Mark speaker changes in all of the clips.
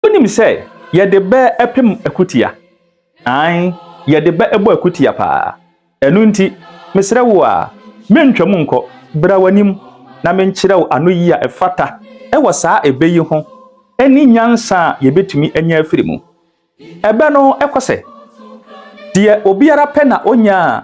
Speaker 1: Wonim sɛ yɛde bɛ pem akutia. Aane, yɛde bɛ bɔ akutia paa. Ɛno nti, mesrɛ wo a, mentwam nkɔ, bra w'anim na menkyerɛ wo anoyie a ɛfata wɔ saa ɛbɛ yi ho ne nyansa a yɛbɛtumi anya afiri mu. Ɛbɛ no kɔ sɛ, Deɛ obiara pɛ na ɔnya a,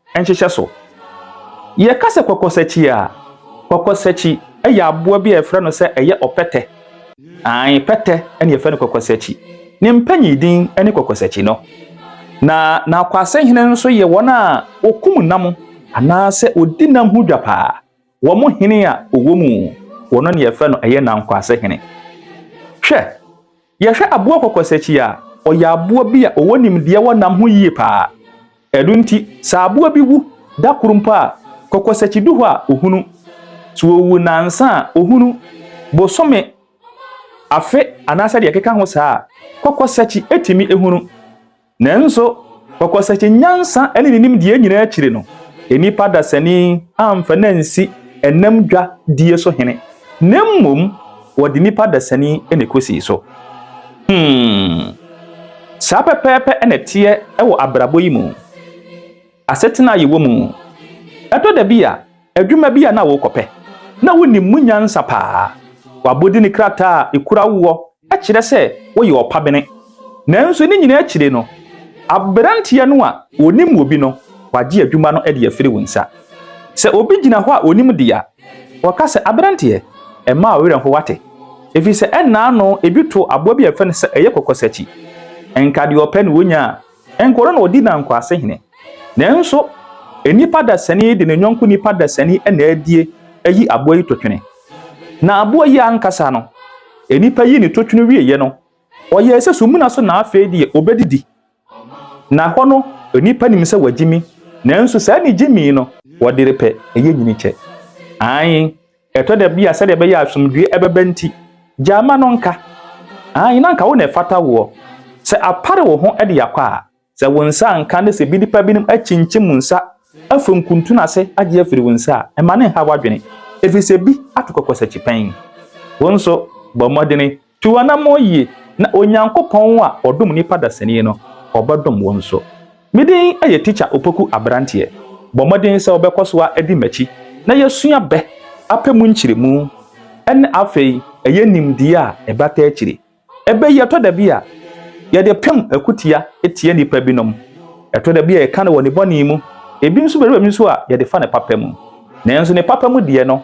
Speaker 1: nhyehyɛ so. Yɛka sɛ kwakwasakyie a, kwakwasakyi yɛ aboa bi a yɛfrɛ no sɛ ɛyɛ ɔpɛtɛ. Aane, pɛtɛ na yɛfrɛ no kwakwasakyi. Ne mpanyin din ne kwakwasakyi no. Na n'akwasenhene nso yɛ wɔn a wɔkum nam anaasɛ wɔdi nam ho dwa paa. Wɔn hene a ɔwɔ mu wɔ no na yɛfrɛ no ɛyɛ nankwase hene. Hwɛ, yɛhwɛ aboɔ kɔkɔsakyi a, ɔyɛ aboɔ bi a ɔwɔ nimdeɛ wɔ nam ho yie paa. Ɛno nti, sɛ aboɔ bi wu da koro mpo a, kɔkɔsakyi du hɔ a, ɔhunu. Sɛ ɔwu nnansa a, ɔhunu. Bosome, afe anaasɛ deɛ ɛkeka ho saa a, kɔkɔsakyi tumi hunu. Nanso, pɔkɔsɛkye nyansa ne ne nimdeɛ nyinaa akyiri no, nnipa dasani amfa no ansi ɛnam dwa die so hene, na mmom wɔde nipa dasani na ekosii so. Hmm. Saa pɛpɛɛpɛ na ɛteɛ wɔ abrabɔ yi mu. asetena a yɛwɔ mu. Ɛtɔ da bi a, adwuma bi a na worekɔpɛ na wunim mu nyansa paa. W'abɔde ne krataa a ekura woɔ kyerɛ sɛ woyɛ ɔpabene. Nanso ne nyinaa akyiri no, aberanteɛ no a ɔnim wo bi no, wagye adwuma no de afiri wo nsa. Sɛ obi gyina hɔ a ɔnim deɛ a, ɔka sɛ, Aberanteɛ, mma wo werɛ ho wate. Ɛfiri sɛ ɛnna ano, ebi too aboa bi a yɛfrɛ no sɛ ɛyɛ kɔkɔsakyi. Nka deɛ ɔpɛ na ɔnya a, Ɛnkɔ no na ɔdi nankwase hene. Nanso nipa dasani de ne yɔnko nipa dasani na adie ayi aboa yi totwene. Na aboa yi ankasa no, nipa yi ne totwene wieɛ no, ɔyɛɛ sɛ sumina so na afei deɛ ɔbɛdidi. Na hɔ no nipa nim sɛ wagyimi, nanso saa ne gyimii no, wɔde repɛ ɛyɛ nyini kyɛ. Aane, Ɛtɔ da bi a sɛdeɛ ɛbɛyɛ a asomdwoeɛ bɛba nti, gyae mma no nka. Aane, na anka wo na ɛfata woɔ. Sɛ apare wo ho de akɔ a, sɛ wo nsa anka na sɛ bi nnipa binom akyinkyim wo nsa afiri nkuntunu ase agye afiri wo nsa a, mma no nha w'adwene, ɛfiri sɛ bi ato kɔkɔsakyipɛn. Wo nso, bɔ mmɔdene Tu anammɔn yie, na Onyankopɔn a ɔdom nnipa dasani no, ɔbɛdom wo nso. Me din yɛ Tikya Opoku Aberanteɛ. Bɔ mmɔden sɛ wobɛkɔ so adi m'akyi na yɛasua bɛ apɛ mu nkyerɛmu ne afei ɛyɛ nimdeɛ a ɛbata akyiri. Ɛbɛ yi ɛtɔ da bi a, yɛde pem akutia tia nnipa binom. Ɛtɔ da bi a yɛka no wɔ ne bɔne mu, ebi nso bɛduru baabi nso a yɛde fa ne papa mu. Nanso ne papa mu deɛ no,